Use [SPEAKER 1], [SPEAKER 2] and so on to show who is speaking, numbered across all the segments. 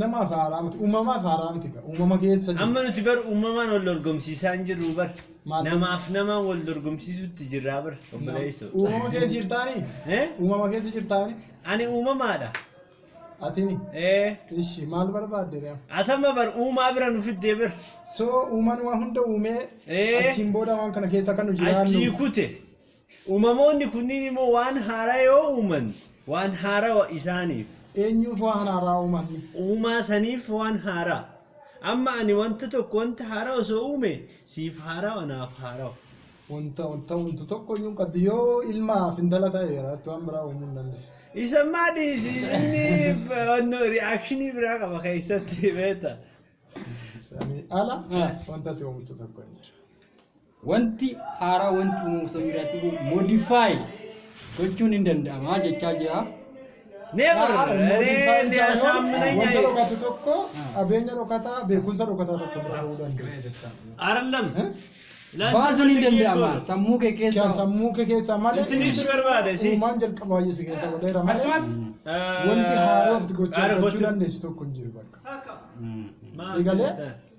[SPEAKER 1] Namaaf haaraa
[SPEAKER 2] miti. Uumamaaf haaraa miti gaa. Uumama keessa jiru. Amma nuti bar uumamaan wal
[SPEAKER 1] dorgomsiisaa hin jirru bar. Maal- Namaaf namaan wal dorgomsiisutti jirraa bar. Obboleessoo. Uumama keessa jirtaanii?
[SPEAKER 2] Eh? Uumama keessa jirtaanii? Ani uumamaadha.
[SPEAKER 1] Atini?
[SPEAKER 2] Eh. Ishi maal barbaadde ree? Atama bar uumaa
[SPEAKER 1] bira nu fiddee bar. So uumaan
[SPEAKER 2] waan hunda uumee Eh. achiin booda waan kana keessa kan nu Achii jiraannu. kute.
[SPEAKER 1] Uumamoonni kunniin immoo waan haaraa yoo uuman, waan haarawa isaaniif. Eenyuuf waan
[SPEAKER 2] haaraa uuman? Uumaa saniif
[SPEAKER 1] waan haaraa. Amma ani wanta tokko wanta haaraa osoo uume, siif haarawa, naaf haarawa. Wanta wanta
[SPEAKER 2] uumtu tokko iyyuu hin qabdu. Yoo ilmaaf intala ta'e irratti waan biraa uumuu hin dandeessu. Isa ammaa dhiisi,
[SPEAKER 1] inni wanno reaction biraa qaba keessatti beekta. Sanii
[SPEAKER 2] ala Ah. wanta ati uumtu tokko hin jiru. Wanti
[SPEAKER 3] haaraa wanti uumamu osoo hin jiraatin modify gochuun hin danda'ama jechaa jira. Never.
[SPEAKER 1] Modify isaa yoom
[SPEAKER 2] wanta dhokate tokko qabeenya dhokataa beekumsa dhokataa tokko bira ga'uu dandeessa. Arallam. Eh?
[SPEAKER 1] Baasuun
[SPEAKER 3] hin danda'ama sammuu kee Kan keessa. sammuu kee keessaa malee
[SPEAKER 2] Intinni si barbaada si.
[SPEAKER 1] uumaan jalqabaayyuu si keessa
[SPEAKER 2] godheera malee wanti haaraa of gochuu gochuu dandeessu tokko hin jiru bakka. Si galee?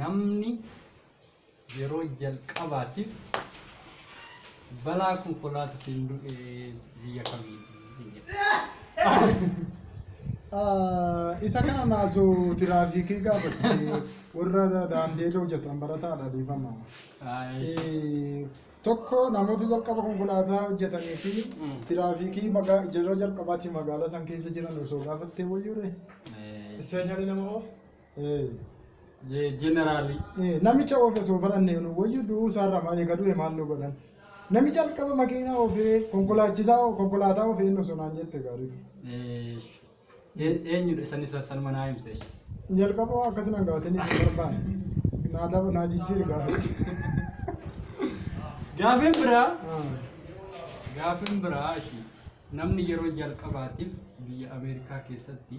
[SPEAKER 3] namni yeroo jalqabaatiif balaa konkolaataatiin du'e biyya kamiiti isin jedha.
[SPEAKER 2] Ah, isa kana naasu tiraafikii gaafatti warra daandii irra hojjetan barataadha dhiifama. Ay, Eh, Tokko namoota jalqaba konkolaataa hojjetanii fi Mm. tiraafikii magaa- yeroo jalqabaatti magaalaa san keessa jiran osoo gaafattee wayyuure. eh, Ispeeshaalii
[SPEAKER 4] nama oof.
[SPEAKER 3] Jeneraalii. Namicha oofes hoo
[SPEAKER 2] baranne nu wayyu du'uu isaarraa maa eega du'e maal nu godhan. Nami jalqaba makiinaa oofee konkolaachisaa konkolaataa oofee inni osoo naan jette gaariitu.
[SPEAKER 3] Eenyudha isaan isa sanuma naa himse. Jalqaba waan
[SPEAKER 2] akkasii nan gaafate ni barbaan. Naa daba naa jijjiiri gaafa. Gaafiin biraa
[SPEAKER 3] gaafiin biraa ishii namni yeroo jalqabaatiif biyya Ameerikaa keessatti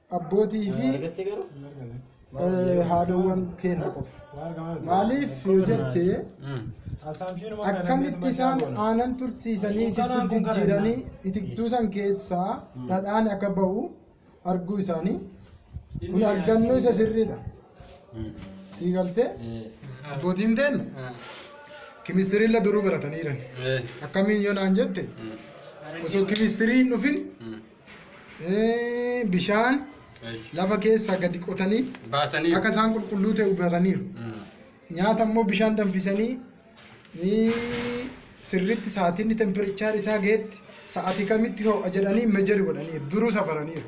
[SPEAKER 2] abbootii fi eh, haadhawwan keenya qofa. Maaliif yoo jette akkamitti isaan aanan tursiisanii itittuu jijjiiranii itittuu san keessaa dhadhaan akka ba'u arguu isaanii kun argannoo isa sirriidha. Sii galtee abbootiin teenna kimistirii illee duruu baratanii jiran. Akkamiin yoo naan jette osoo kimistirii hin dhufin eh, bishaan lafa keessaa gadi qotanii Baasanii. akka isaan
[SPEAKER 3] qulqulluu ta'e
[SPEAKER 2] baraniiru. Nyaata immoo bishaan danfisanii eh, sirriitti sa'aatiin tempirichaar isaa gahetti sa'aatii kamitti ho'a jedhanii mejeri godhaniiru duruu safaraniiru.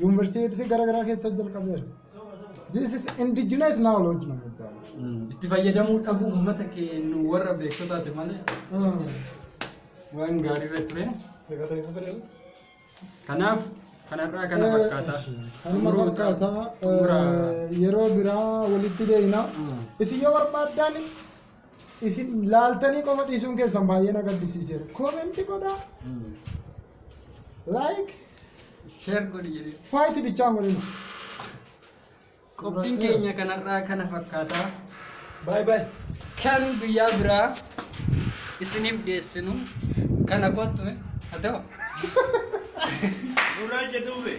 [SPEAKER 2] Yuunivarsiitii gara garaa keessa jalqabeera. This is indigenous knowledge nama iddoo. Itti fayyadamuu
[SPEAKER 3] dhabuu uummata keenya warra beektotaati malee waan gaarii irra ture. Kanaaf kanarraa kana fakkaata. Kanuma fakkaata.
[SPEAKER 2] Xumura. Yeroo biraa walitti deebina. Mm. Isin yoo barbaaddan Isin laaltanii qofa dhiisuun keessan baay'ee na gaddisiiseera. Koomenti godhaa. Like. Sheer
[SPEAKER 3] godhi jedhee. Faayiti bichaan godhina.
[SPEAKER 2] Qophiin
[SPEAKER 3] keenya kanarraa kana fakkaata. Baay baay.
[SPEAKER 4] Kan guyyaa
[SPEAKER 3] biraa isiniif dhiyeessinu kana kottu haa ta'u. Gurraacha duube.